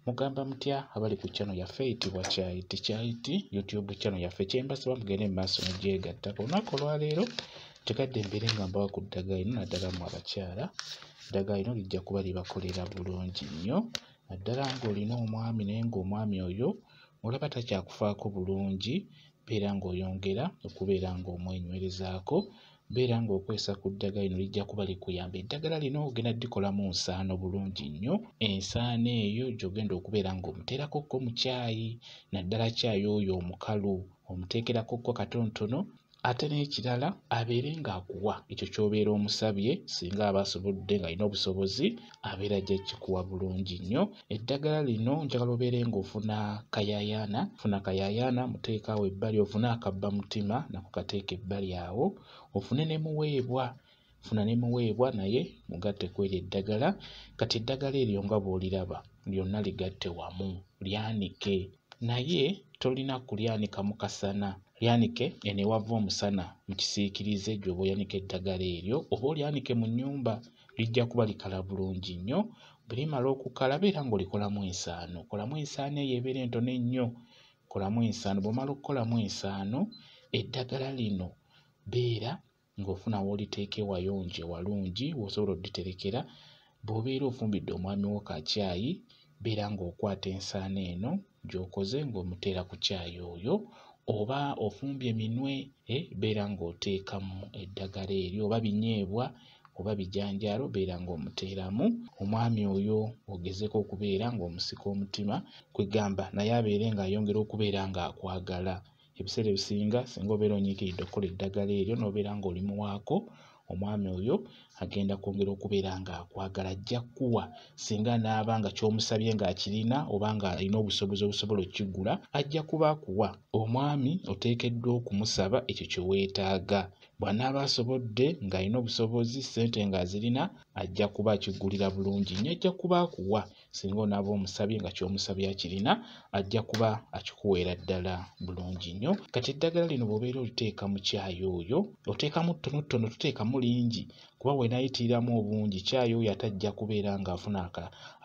mugamba mutya abali ku channel yaffe eyitibwa kyayiti kyayiti youtube channel yaffe kyembasaba mugende mu maaso negyegatta ku lunaku olwaleero kikadde mbeere nga mbawa ku ddagala ino naddala mu abakyala eddagala lino lijja kuba libakolera bulungi nnyo naddala ng'olina omwami naye ng'omwami oyo olaba takyakufaako bulungi beera ng'oyongera okubeera ng'omwenywerezaako beera ng'okwesa ku ddagala lino lijja kuba likuyamba eddagala lino ogenda dikolamu nsaano bulungi nnyo ensaano eyo gy'ogenda okubeera ng'omuteerako ko mu kyayi naddala kyayi oyo omukalu omuteekerako ko katonotono ate n'ekirala abeere ng'akuwa ekyo ky'obeera omusabye singa aba asobodde ng'alina obusobozi abeera ajja kikuwa bulungi nnyo eddagala lino njagala obeere ng'ofuna kayayaana funa kayayaana muteekaawo ebbali ofune akabba mutima nako kateeka ebbali awo ofune ne muweebwa funa ne muweebwa naye mugatte ku eryo eddagala kati eddagala eryo nga bw'oliraba lyonna ligatte wamu lyanike naye tolina kulyanika mu kasana lyanike eno ewava omusana mu kisiikirize gy'oba oyanika eddagala eryo oba olyanike mu nnyumba lijja kuba likala bulungi nnyo bwe limala okukala beera ng'olikolamu ensaano kolamu ensaano eyo ebeera entono ennyo kolamu ensaano bw'omala okukolamu ensaano eddagala lino beera ng'ofuna w'oliteeka ewayonje walungi w'osobola odditerekera bw'obeera ofumbidde omwami wo kakyayi beera ng'okwata ensaano eno gy'okoze ng'omuteera ku caayi oyo oba ofumbye minwe eh, beera ng'oteekamu eddagala eryo oba binyeebwa oba bijanjaalo beera ng'omuteeramu omwami oyo ogezeko okubeera ng'omusika omutima kwegamba naye abeere ng'ayongera okubeera ng'akwagala ebiseera ebisinga singa obeera onyiikiridde okukola eddagala eryo n'obeera ng'oli muwaako omwami oyo agenda kwongera okubeera ng'akwagala ajja kuwa singa naaba nga ky'omusabye ng'akirina oba ng'alina obusobozi obusobola okukigula ajja kuba akuwa omwami oteekeddwa okumusaba ekyo kye weetaaga bw'anaaba asobodde ng'alina obusobozi ssente ng'azirina ajja kuba akigulira bulungi nnyo ajja kuba akuwa singa onaaba omusabye nga kyomusabye akirina ajja kuba akikuweera ddala bulungi nnyo kati eddagala lino bwobeera oliteeka mu kyayi oyo oteekamu ttonotono tuteekamu lingi kuba wenayitiriramu obungi kyayi oyo ate ajja kubeera ng'afuna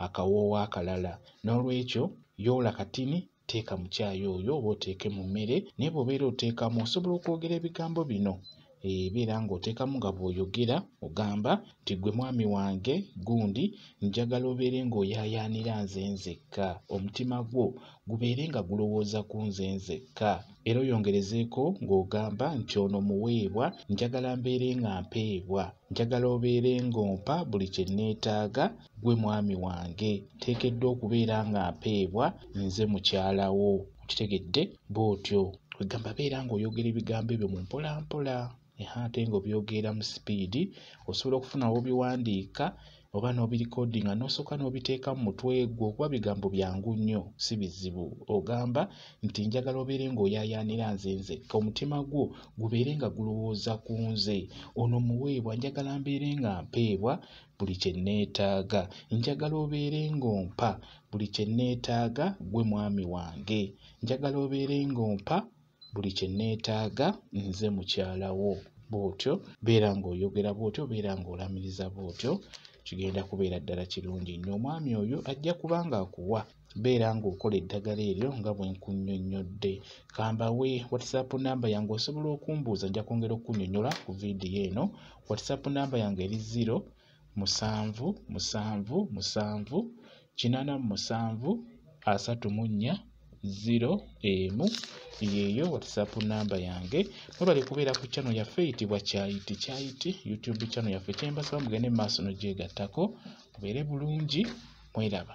akawoowo akalala n'olwekyo yoola katini teeka mu kyayi oyo oba oteeke mu mmere naye bw'obeera oteekamu osobola okwogera ebigambo bino ebeera eh, ng'oteekamu nga bw'oyogera ogamba nti gwe mwami wange gundi njagala obeere ng'oyaayaanira nze nzekka omutima gwo gubeere nga gulowooza ku nze nzekka era oyongerezeeko ng'ogamba nti ono muweebwa njagala mbeere nga mpeebwa njagala obeere ng'ompa buli kye nneetaaga Ggwe mwami wange nteekeddwa okubeera nga mpeebwa nze mukyala wo. Okitegedde? Bw'otyo kwegamba beera ng'oyogera ebigambo ebyo mu mpolampola eha ate ng'obyogera mu sipiidi. Osobola okufuna w'obiwandiika oba n'obirikodinga n'osooka n'obiteeka mu mutwe gwo kuba bigambo byangu nnyo si bizibu. Ogamba nti njagala obeere ng'oyaayaanira nze nzekka, omutima gwo gubeere nga gulowooza ku nze. Ono muweebwa njagala mbeere nga mpeebwa buli kye nneetaaga njagala obeere ng'ompa buli kye nneetaaga ggwe mwami wange njagala obeere ng'ompa buli kye nneetaaga nze mukyala wo bw'otyo beera ng'oyogera bw'otyo beera ng'olamiriza bw'otyo kigenda kubeera ddala kirungi nnyo omwami oyo ajja kuba ng'akuwa beera ng'okola eddagala eryo nga bwe nkunyonnyodde kambawe whatsapp namba yange osobola okumbuuza nja kwongera okukunyonyola ku vidiyo eno whatsapp namba yange eri 0 musanvu musanvu musanvu kinana mu musanvu asatu mu nnya ziro emu yeeyo whatsapp namba yange mwebale kubeera ku channel yaffe eyitibwa kyayiti kyayiti youtube channel yaffe kyembasaba mugende mu maaso nogyegattako mubeere bulungi mweraba